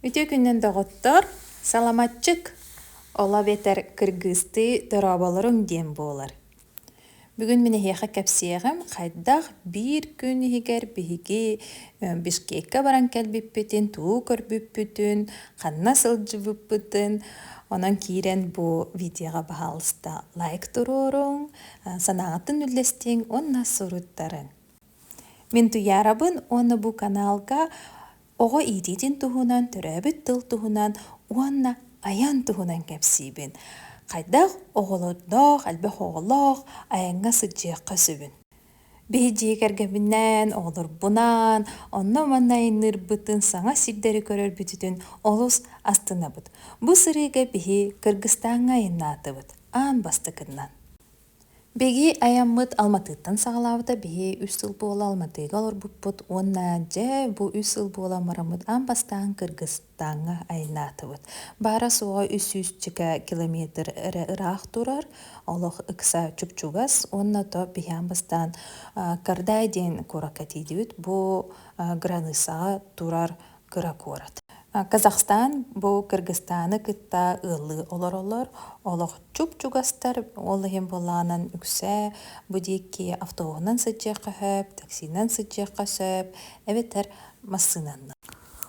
Үтүө күнүн доҕоттор! Саламатчык оло эбэтэр кыргыыстыы дорооболоруҥ диэн буолар. Бүгүн мин эһиэхэ кэпсиэҕим хайдах биир күн иһигэр биһиги бишкекка баран кэлбиппитин, туу көрбүппүтүн, ханна сылдьыбыппытын. Онон киирэн бу видеоҕа баһаалыста лайк туруоруҥ, санааҕытын үллэстиҥ уонна суруттарыҥ. Мин Туйаарабын уонна бу каналга оҕо иитиитин туһунан, төрөөбүт тыл туһунан уонна айан туһунан кэпсиибин. Хайдах оҕолордоох, элбэх оҕолоох айаҥҥа сылдьыахха сөбүн. Биһи дьиэ кэргэбинээн, оҕолорбунаан, онно-манна айанныырбытын, саҥа сирдэри көрөрбүтүтүн олус астынабыт. Бу сырыыга биһи Кыргыстааҥҥа айаннаатыбыт аан бастакынан. Бигии айаммыт Алматыттан саҕалаабыта биһи үс сыл буола Алматыга олорбуппут уонна дьэ бу үс сыл буола бараммыт аан бастаан Кыргызстааҥҥа айыллаатыбыт. Баара-суоҕа үс сүүсчэкэ километр эрэ ыраах турар, олох ыкса чупчугас уонна то биһи аан бастаан Кардай диэн куоракка тиийдибит. Бу границаҕа турар кыра куорат. Казахстан бу Кыргызстаны кытта ыаллыы олоролор. Олох чуп-чугастар, ол иһин буолаанан үксэ бу диэки автобуһунан сыдьыахха сөп, таксинан сыдьыахха сөп, эбэтэр массыынаннан.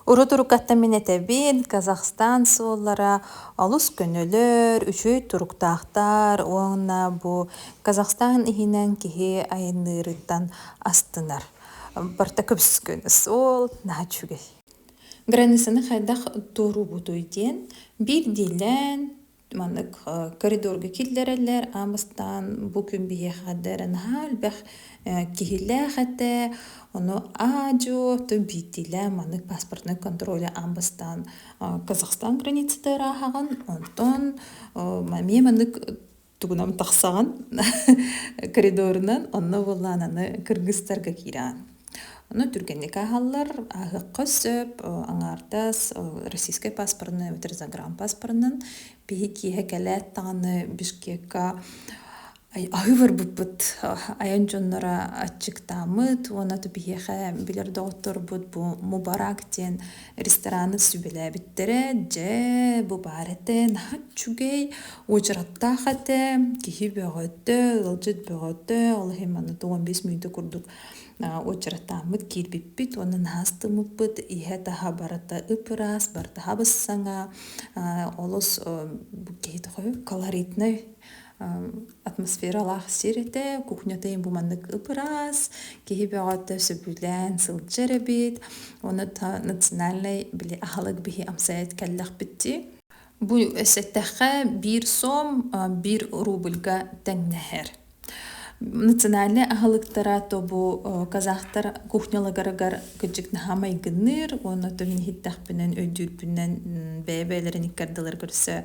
Урут-уруккаттан мин этэбин, Казахстан суоллара олус көнөлөр, үчүгэй туруктаахтар уонна бу Казахстан иһинэн киһи айанныырыттан астынар. Портакыбскүн суол наһаа үчүгэй. Границаны хайдах туоруубутуй диэн биирдиилээн маннык коридорга киллэрэллэр аан бастаан бу күн биһиэхэ да эрэ наһаа элбэх киһилээх этэ ону аа-дьуо то биирдиилээн маннык паспортнай контроля аан бастаан Казахстан границата ырааһаҕын онтон эмиэ маннык тугунам тахсаҕын коридорунан онно буоллаан аны кыргыстарга киираан ону түргэнник ааһаллар ааһыахха сөп аҥаардас российскай паспорнай эбэтэр загранпаспорынан биһи киэһэ кэлээт даҕаны бишкекка аһыы барбыппыт айан дьонноро аччыктааммыт уонна биһиэхэ билэр доҕотторбут бу мубарак диэн рестораны сүбэлээбиттэрэ дьэ бу баар этэ наһаа үчүгэй уочараттаах этэ киһи бөҕөтө ыалдьыт бөҕөтө ол иһин манна уон бис мүнүүтэ курдук уочараттааммыт киирбиппит уонна наһаа астыммыппыт иһэ-таһа барыта ып-ыраас барытаһа быссаҥа олус киһи тоҕо колоритнай атмосфералаах сир этэ кухнята им бу маннык ыпыраас киһи бөҕөтө сөбүлээн сылдьар эбит оны национальнай били аһылык биһи амсайат кэллэхпитти бу сэттэхэ биир сом бир рубльга тэҥнэһэр национальный аһылыктара тобу казахтар кухнялагарагар кыдьык наһамай гынныыр уонна томиниһиттэхпинен өйдүүрпүннэн бэйэ-бэйэлэрин иккардылар көрсө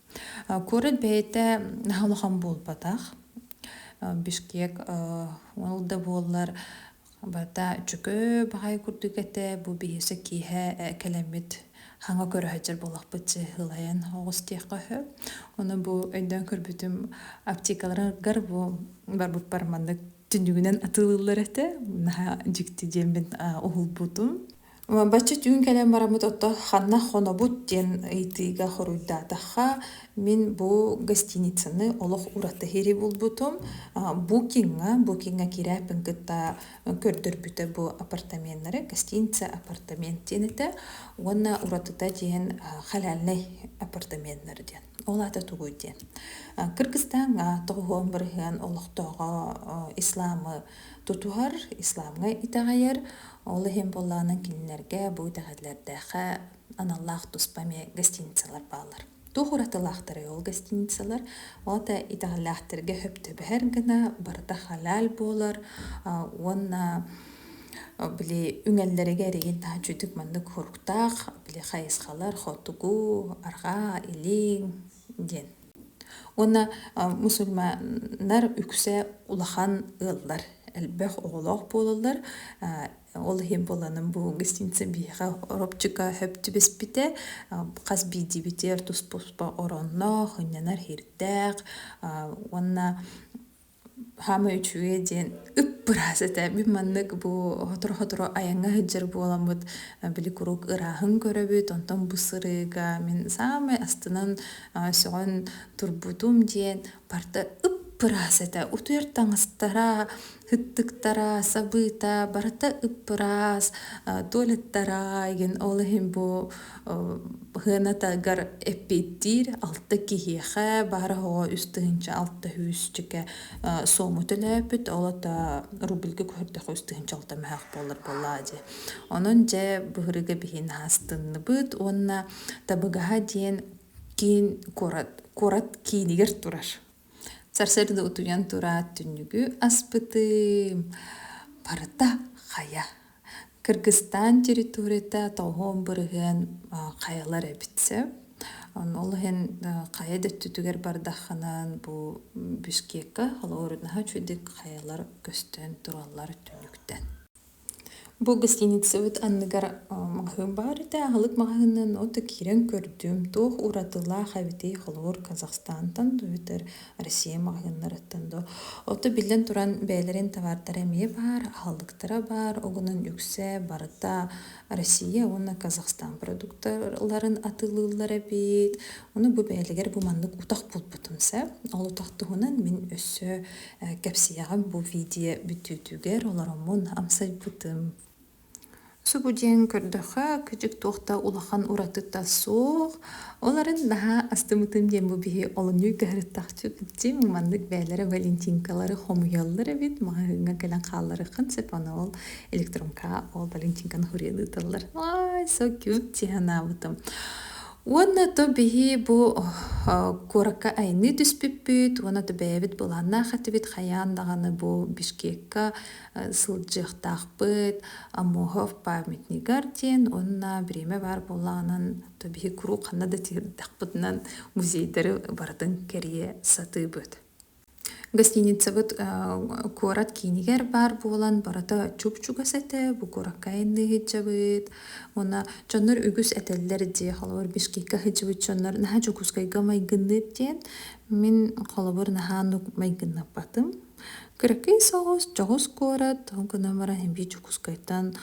Куорат бэйэтэ улахан буолбатах. Бишкек ол да буоллар барыта үчүгэй баҕайы курдук этэ. Бу биһиэхэ киэһэ кэлэммит хаҥа көрө сылдьар буоллахпыт чыыһылайан оҕус диэххэ сөп. Ону бу өйдөөн көрбүтүм аптекаларгар бу барбыппар маннык түннүгүнэн атыылыыллар этэ. Наһаа дьикти диэммин уһулбутум. Бачча түүн кэлэн бараммыт оттон ханна хонобут диэн ыйытыыга хоруйдаатахха мин бу гостиницаны олох уратыһыри булбутум букиҥҥа букиҥҥа кирээппин кытта көрдөрбүтэ бу апартаменнары гостиница апартамент диэн этэ уонна уратыта диэн халяльнай апартаменнар диэн ол аата тугуй диэн кыргыстааҥҥа тоҕуһуон барыһыан олохтооҕо исламы тутуһар исламҥа итэҕэйэр Ол иһин буоллаҕына кинилэргэ бу итэҕэллэрдээххэ аналлаах туспа эмиэ гостиницалар бааллар. Туох уратылаахтарый ол гостиницалар? Ото итэҕэллээхтэргэ сөп түбэһэр гына барыта халаал буолар уонна били үҥэллэригэ эригин таһа үчүгдүк маннык хоруктаах били хайысхалар хотугу, арҕаа, илиҥ диэн Уонна мусульманнар үксэ улахан ыаллар, элбэх оҕолоох буолаллар. Ол иһин буоланын бу гостиница биһиэхэ оробчука сөптүбэспитэ. Хас биирдиибитигэр туспа-туспа оронноох, ынньанар иһирдээх уонна Саамай үчүгэй диэн ыппыраас этэ. Мин маннык бу сотору-сотору айаҥҥа сылдьар буоламмыт били куруук ырааһын көрөбүт, онтон бу сырыыга мин саамай астынан сөҕөн турбутум диэн барыта ыппыраас этэ. Утуйар таҥастара, ыттыктара, сабыыта барыта ыппыраас, туалеттара, ол иһин бу Ыһыанатыгар эппиэттиир алта киһиэхэ баара оҕо үс тыһыынча алта сүүсчүкэ суому төлөөпүт, ол ото рубльга көһөрдөххө үс тыһыынча алта мөһөх буолар буоллаа дии. Онон дьэ быһырыга биһиин аастынныбыт уонна Табыгаһа диэн киин куорат куорат киинигэр турар. Сарсыарда утуйан тураат түннүгү аспытым, барыта хайа. Кыргыстаан территорията тоһоон бырыһыан хайалар эбит сөп. Ол иһин хайа да өттүтүгэр бардаххынан бу Бишкекка холобурунаһа үчүгэйдик хайалар көстөн тураллар түнүктэн. Бу гостиницабыт анныгар маҕаһыын баар этэ. Аһылык маҕаһыынын ото киирэн көрдүм. Туох уратылаах эбитий холобур Казахстантан эбэтэр Россия маҕаһыыннарыттан дуу. Ото биллэн туран бэйэлэрин табаардара эмиэ баар, аһылыктара баар. Огунан үксэ барыта Россия уонна Казахстан продукталарын атыылыыллар эбит. Ону бу бэйэлигэр бу маннык утах булбутум сэ. Ол утах туһунан мин өссө Кэпсиэҕим бу видео бүтүүтүгэр олороммун амсайбытым. Субу диэн көрдөхө күдьүк туох да улахан уратыта суох. Оларын наһаа астымытым диэн бу биһи олунньу кыһарыттахчыт дьиҥ маннык бэйэлэрэ валентинкалары хомуйаллар эбит. Маҕаһыыҥҥа кэлэн хаалларыххын сөп аны ол электронка ол валентинканы хуриялыы тыллар. Ай, so cute дии санаабытым. Уонна то биһи бу куоракка айанныы түспүппүт уонна то бэйэбит былааннаах этибит хайаан даҕаны бу Бишкекка сылдьыахтаахпыт Амохов памятнигар диэн уонна время баар буоллаҕынан то биһи куруук ханна да тиэрдэхпитинэн музейдары барытын кэрийэ сатыыбыт Гостиницабыт куорат киинигэр баар буолан барыта чуп-чугас этэ, бу куоракка айанныы сылдьабыт. Уонна дьоннор үгүс этэллэр дии, холобур Бишкекка сылдьыбыт дьоннор наһаа Дьокуускайга майгынныыт диэн. Мин холобур наһаа оннук майгыннаппатым. Кыракый соҕус, дьоҕус куорат, ол гынан баран эбии Дьокуускайтан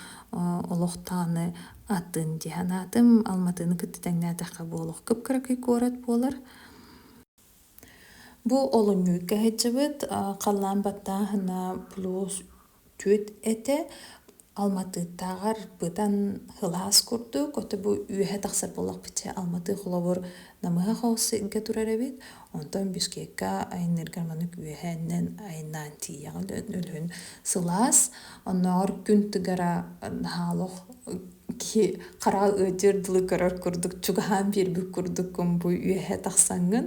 олохтооҕуну атын дии санаатым. Алматыны кытта тэҥнээтэххэ буолуох кып-кыракый куорат буолар. Бу олунньу кэһэччибит, халлаан баттааһына плюс түөрт этэ. Алматыттааҕар бытан һылаас курдук, ото бу үөһэ тахсар буоллахпыт дьэ Алматы холобур намыһах оҕуссайга турар эбит. Онтон Бишкекка айанныыргар маннык үөһээннэн айаннаан тиийэҕин өлүһүн сылаас. Оннооҕор күн тыгара наһаа олох хараал ыытыыр дылы көрөр курдук чугаһаан биэрбит курдуккун бу үөһэ тахсаҥҥын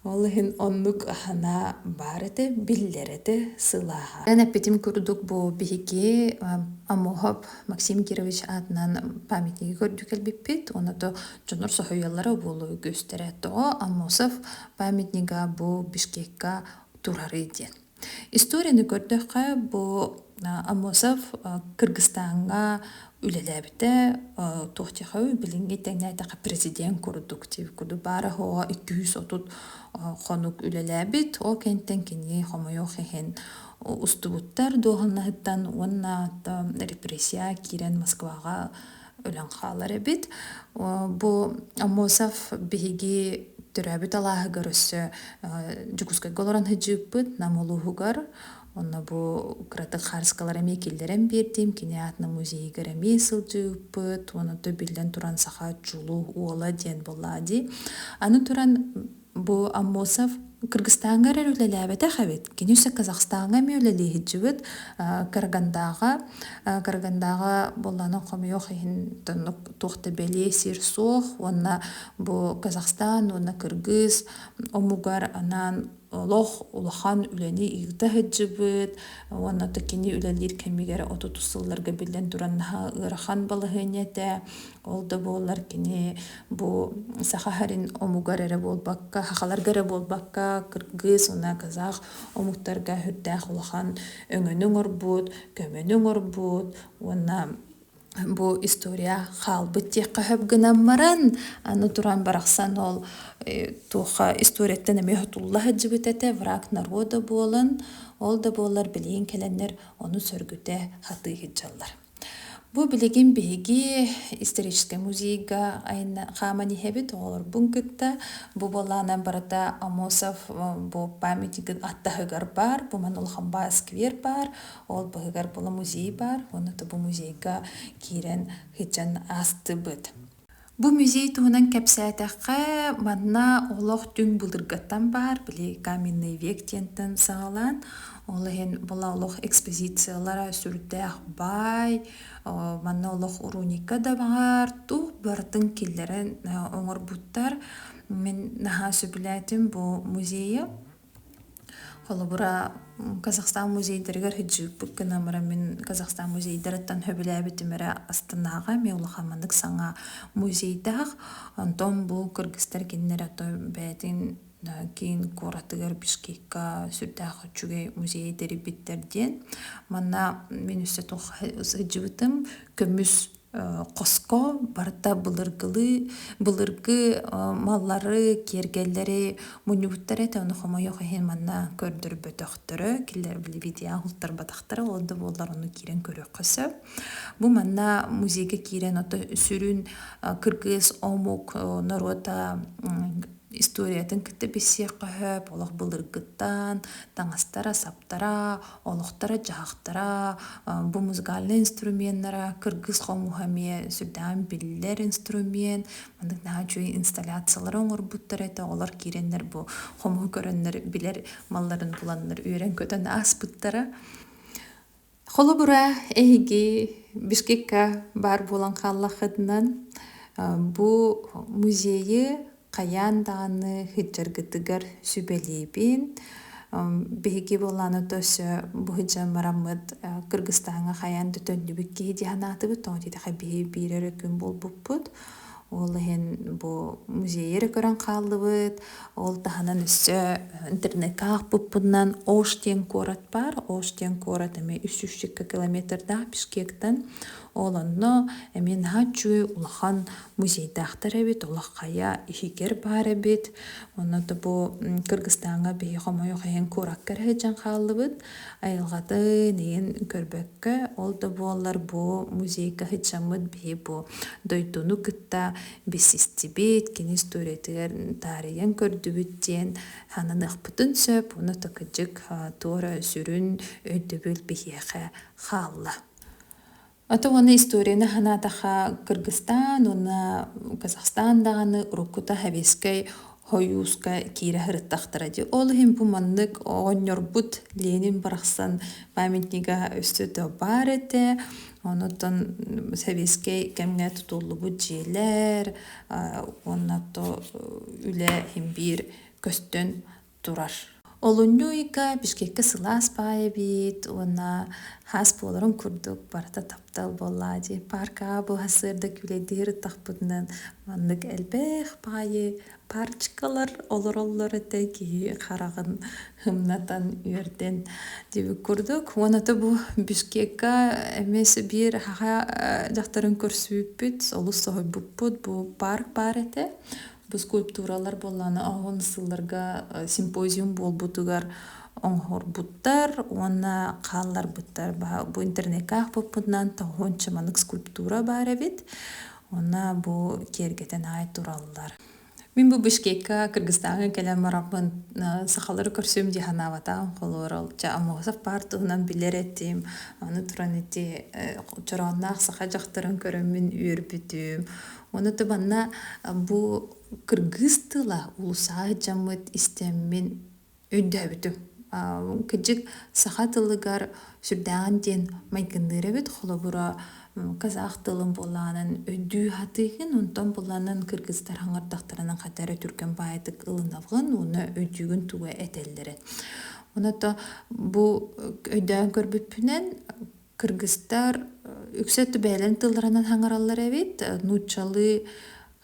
ол иһин оннук аһына баар этэ биллэр этэ сылааһа эн эппитим курдук бу биһиги амоһоп максим кирович аатынан памятниги көрдүү кэлбиппит уона то дьонор соһуйаллара буолу көстөрө то амосов памятнига бу бишкекка турары диэн Историяны көрдөххө, бу Амосов Кыргызстааҥҥа үлэлээбитэ туохтехои билиҥҥи тэҥнээтэххэ президент курдук дии курдук баара-хоһо икки үс отут хонук үлэлээбит ол кэнниттэн кини хомойуох иһин устубуттар дуоһунаһыттан уонна репрессия киирэн Москваҕа өлөн хаалар эбит. Бу Амосов биһиги төрөөбүт алааһыгар өссө Дьокуускайга олорон сыдьыыппыт Нам улууһугар онно бу кыратык хаарыскалар эмиэ киллэрэн биэрдим кини аатынан музейыгар эмиэ сылдьыыппыт уонна да биллэн туран саха чулуу уола диэн буоллаа дии аны туран Бу Аммосов Кыргыстааҥҥа эрэр үлэлээбэтэх эбит. Кини өссө Казахстаҥҥа эмиэ үлэлиһиччибит. Карагандааҕа Карагандааҕа буоллаҕына хомойуох иһин тоннук туох да бэлиэ сир суох уонна бу Казахстан уонна Кыргыз омугар анаан олох улахан үлэни ыыта сылдьыбыт уонна да кини үлэлиир кэмигэр отутус сылларга биллэн туран наһаа ыарахан балаһыанньа этэ Ол да буоллар кини бу саха харин омугар эрэ буолбакка, хахаларга эрэ буолбакка, кыргыз уонна казах омуктарга үрдээх улахан өҥөнү оҥорбут, көмөнү оҥорбут уонна бу история хаалбыт диэххэ сөп гынан баран, аны туран барахсан ол э, туохха историяттан эмиэ хотулла сылдьыбыт этэ, враг народа буолан, ол да буоллар билигин кэлэннэр ону сөргүтэ сатыы сылдьаллар. Бу билигин биһиги историческай музейга айна хааман иһэбит оҕолорбун кытта бу буолаанан барыта Амосов бу памятнигын аттаһыгар баар бу манан улахан баа сквер баар ол быһыгар булу музей баар уонна тобу музейга киирэн һычан аастыбыт Бу музей туһунан кэпсээтэххэ, манна олох түҥ былыргаттан баар, били Каменный век диэнтэн саҕалаан, ол иһин була олох экспозициялара сүрдээх баай, манна олох уруника да баҕар, туох барытын киллэрэн оҥорбуттар. Мин наһаа сөбүлээтим бу музейы. Холобура, Казахстан музейдарыгар хыджыыппыт гынамыра мин Казахстан музейдарыттан хөбүлээбитим эрэ астынааҕа эмиэ улахан маннык саҥа музейдаах. Онтон бу кыргыстар кинилэрэ то бэйэтин киин куоратыгар Бишкекка сүрдээх үчүгэй музейы тэрийбиттэр диэн. Манна мин өссө туох сылдьыбытым көмүс Хоско барыта былыргылыы былыргы маллары киэргэллэри мунньубуттара этэ ону хомойуох иһин манна көрдөрбөтөхтөрө кинилэр билибитиээн уһултарбатахтара ол да буоллар ону киирэн көрүөххэ сөп бу манна музейга киирэн ото сүрүн кыргыыс омук норуота историятын кытта билсиэххэ сөп олох былыргыттан таҥастара саптара олохторо дьаһахтара бу музыкальнай инструменнара кыргыс хомуһа эмиэ сүрдээх биллэр инструмент маннык наһаа үчүгэй инсталляциялары оҥорбуттар этэ олор киирэннэр бу хомуһу көрөннөр билэр малларын буланнар үөрэн көтөн ааспыттара Холобура, эһиги Бишкекка баар буолан хааллаххытынан, бу музейы хайаан даҕаны сылдьаргытыгар сүбэлиибин. Биһиги буоллаҕына то өссө бу сылдьан бараммыт Кыргызстааҥҥа хайаан да төннүбүт киһи дии санаатыбыт, тоҕо диэтэххэ биһи биир эрэ күн буолбуппут. Ол иһин бу музейы көрөн хааллыбыт. Ол таһынан өссө интернетке аахпыппыннан Ош диэн куорат баар. Ош диэн куорат эмиэ үс жүз икки километрдаах Бишкектан. Ол онно эмиэ наһаа үчүгэй улахан музейдаахтар эбит. Олох хайа иһигэр баар эбит. Онно да бу Кыргызстааҥҥа биһиги хомойуох иһин куоракка эрэ сылдьан хааллыбыт. Айылҕатын иһин көрбөккө, ол да буоллар бу музейга сыдьаммыт биһи бу дойдуну кытта билсистибит, кини историятыгар таарыйан көрдүбүт диэн сананыахпытын сөп. Уну такыдьык туора сүрүн өйдөбүл биһиэхэ хаалла. Аты уонна историяны санаатахха Кыргызстан уонна Казахстан даҕаны уруккута Хабиэскэй хойууска киирэ сырыттахтара дии. Ол иһин бу маннык оҕонньорбут Ленин барахсан памятнига өссө да баар этэ. Онутан Сэбиэскэй кэмҥэ тутуллубут дьиэлэр уонна то үлэ имбиир көстөн турар. Олунньу ыйга Бишкекке сылаас баай эбит уонна хаас буоларын курдук барыта таптал буоллаа дии. Паркаа буһасыырда күлэйдиһир ыттахпытынан маннык элбэх баайы парчыкалар олороллор этэ киһи хараҕын хымнатан үөрдэн дибит курдук. Уонна то бу Бишкекка эмиэ биир хаха дьахтарын көрсүүппүт олус соһуйбуппут бу парк баар этэ. Бу скульптуралар буоллааны оһон сылларга симпозиум буолбутугар оҥорбуттар уонна хаалларбыттар. Бу интернетке аахпыппытынан тоһуонча манык скульптура баар эбит. Уонна бу киэргэтэн аай тураллар. Мин бу Бишкекка Кыргызстаҥҥа кэлэн барахпын сахалары көрсүм дии санаабатаҕым холуорал ча Амосов баар туһунан билэр этим аны туран ити чороонноох саха дьахтарын көрөммүн үөрбүтүм Оны табанна бу кыргыыс тыла улусаа дьаммыт истэммин өйдөөбүтүм. Кыдьык саха тылыгар сүрдээҕин диэн майгынныыр эбит холобура казах тылын буолаанын өйдүү хатыыгын онтон буланын кыргызтар хаңырдахтарынан хатары түргэн баайтык ылынабын уна өйдүүгүн туга этеллерин. Оното бу өйдөөн көрбүппүнэн Кыргыстар үксэ түбээлэн тылларынан хаҥараллар эбит, нууччалыы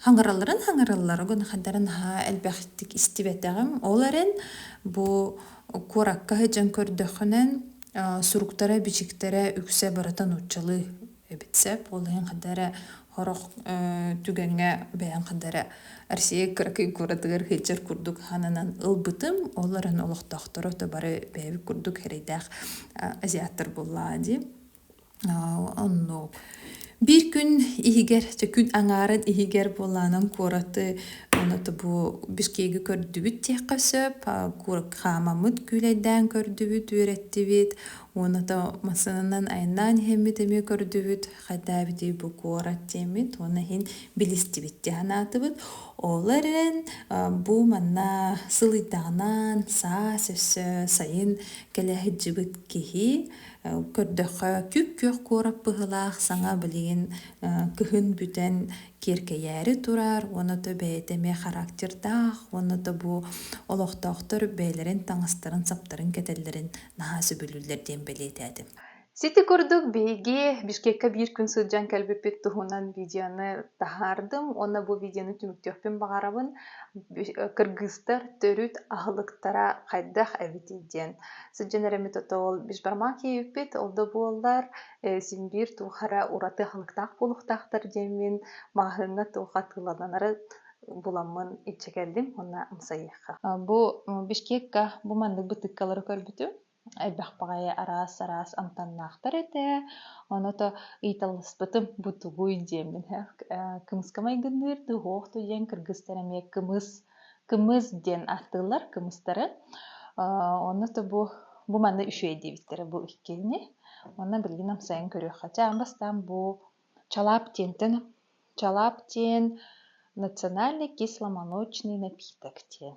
хаҥаралларын хаҥараллар, ону хандара наһаа элбэхтик истибэтэҕим. Ол эрэн бу куоракка сылдьан көрдөххүнэн суруктара, бичиктэрэ үксэ барыта нууччалыы эбит сөп. Ол иһин ханна эрэ Хорох түгэҥҥэ бэйэм хадара Россия кыракый куратыгар хыйчар курдук хананан ылбытым. Ол эрэн олохтоохторо то бары бэйэбит курдук эрэйдээх азиаттар буллаа дии. Оннук. Биир күн иһигэр, чэ күн аҥаарын иһигэр буолаанан куораты оното бу Бишкегі көрдүбүт диэххэ сөп. Хаамаммыт күүлэйдээн көрдүбүт, үөрэттибит. Уонна то массыынанан айаннаан иһэммит эмиэ көрдүбүт. хайдаабитый бу куорат диэммит уонна иһин билистибит дии санаатыбыт ол эрэн бу манна сылыйдаҕынан саас өссө сайын кэлэ сылдьыбыт киһи көрдөххө күөх күөх куорат быһылаах саҥа билигин кыһын бүтэн киэркэйээри турар уонна то бэйэтэ эмиэ характердаах уонна то бу олохтоохтор бэйэлэрин таҥастарын саптарын кэтэллэрин наһаа сөбүлүүллэр диэн бэлиэтээтим Сити курдук биһиги Бишкекка биир күн сылдьан кэлбиппит туһунан видеоны таһаардым уонна бу видеону түмүктүөхпүн баҕарабын. Кыргыыстар төрүт аһылыктара хайдах эбитий диэн сылдьан эрэммит ото ол бишбармак иэбиппит ол да буоллар син биир туохара ураты аһылыктаах буолуохтаахтар диэммин маҕаһыыҥҥа туох атыыланары буламмын илдьэ кэллим уонна ымсайыахха. Бу Бишкекка бу маннык бытыыккалары көрбүтүм Элбэх баҕайы араас-араас амтаннаахтар этэ, ону то ыйыталаспытым бу тугуй диэммин кымыска майгынныыр дыһуох то диэн кыргыстар эмиэ кымыс кымыс диэн ааттыыллар кымыстары ону то бу бу манна үчүгэй диэбиттэрэ бу иккиини онно билигин амсайан көрүөххэ чаан бастаан бу чалаап диэнтэн чалаап диэн национальный кисломолочный напиток диэн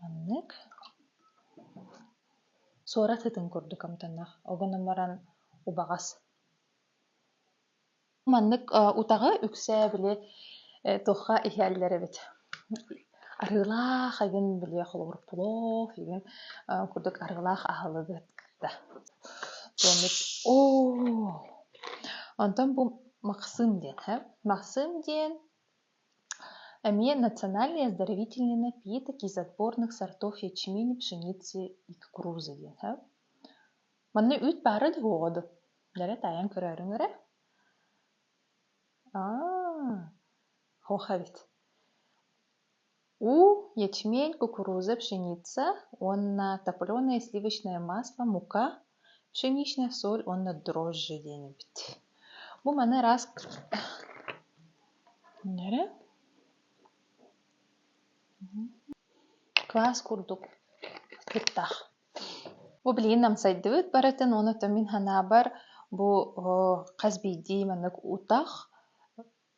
Маннык суорат ытын курдук амтаннаах огон умаран убаҕас маннык утаҕы үксэ били туохха иһэллэр эбит арыылаах игин били холобур плов игин курдук арыылаах аһылыгы кыта томмут оо онтон бу махсым диэн ээ махсым диэн эмиэ национальные оздоровительные напитки из отборных сортов ячмень пшеницы и кукурузы диэн һэ манна үүт баара да буолуо дуо дэлэ таайан көрөөрүҥ эрэ аа хоха эбит У, ячмень, кукуруза, пшеница уонна топленое сливочное масло, мука, пшеничная соль уонна дрожжи диэн эбит. Бу маны раз эрэ квас курдук кыттах. Бу билигин намсайдыбыт барытын уонна мин санаабар бу хас биирдии маннык утах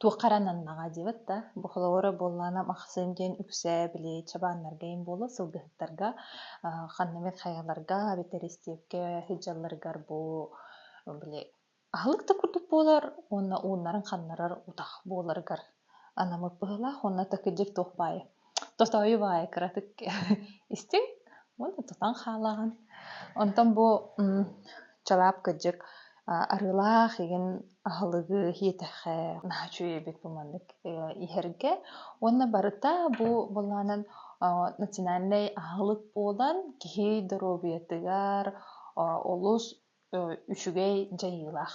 туохха эрэ ананнаҕа диэбит да бу холобура буоллаҕына махсыым диэн үксээ били чабааннарга им буолуо сылгыһыттарга аа, ханна эмит хайаларга эбэтэр истиэпкэ сылдьалларыгар бу били аһылык да курдук буолар уонна ууннарын ханнарар утах буоларыгар анаммыт быһыылаах уонна такырдьык туох баайа тотойу баай кыратык истиҥ уонна тутан хаалаҕын онтон бу чалаап кыдьык арыылаах игин аһылыгы иэтэххэ нааччыйбыт бу маннык иһэргэ уонна барыта бу былаанан национальнай аһылык буолан киһи доруобуйатыгар олус үчүгэй дьайыылаах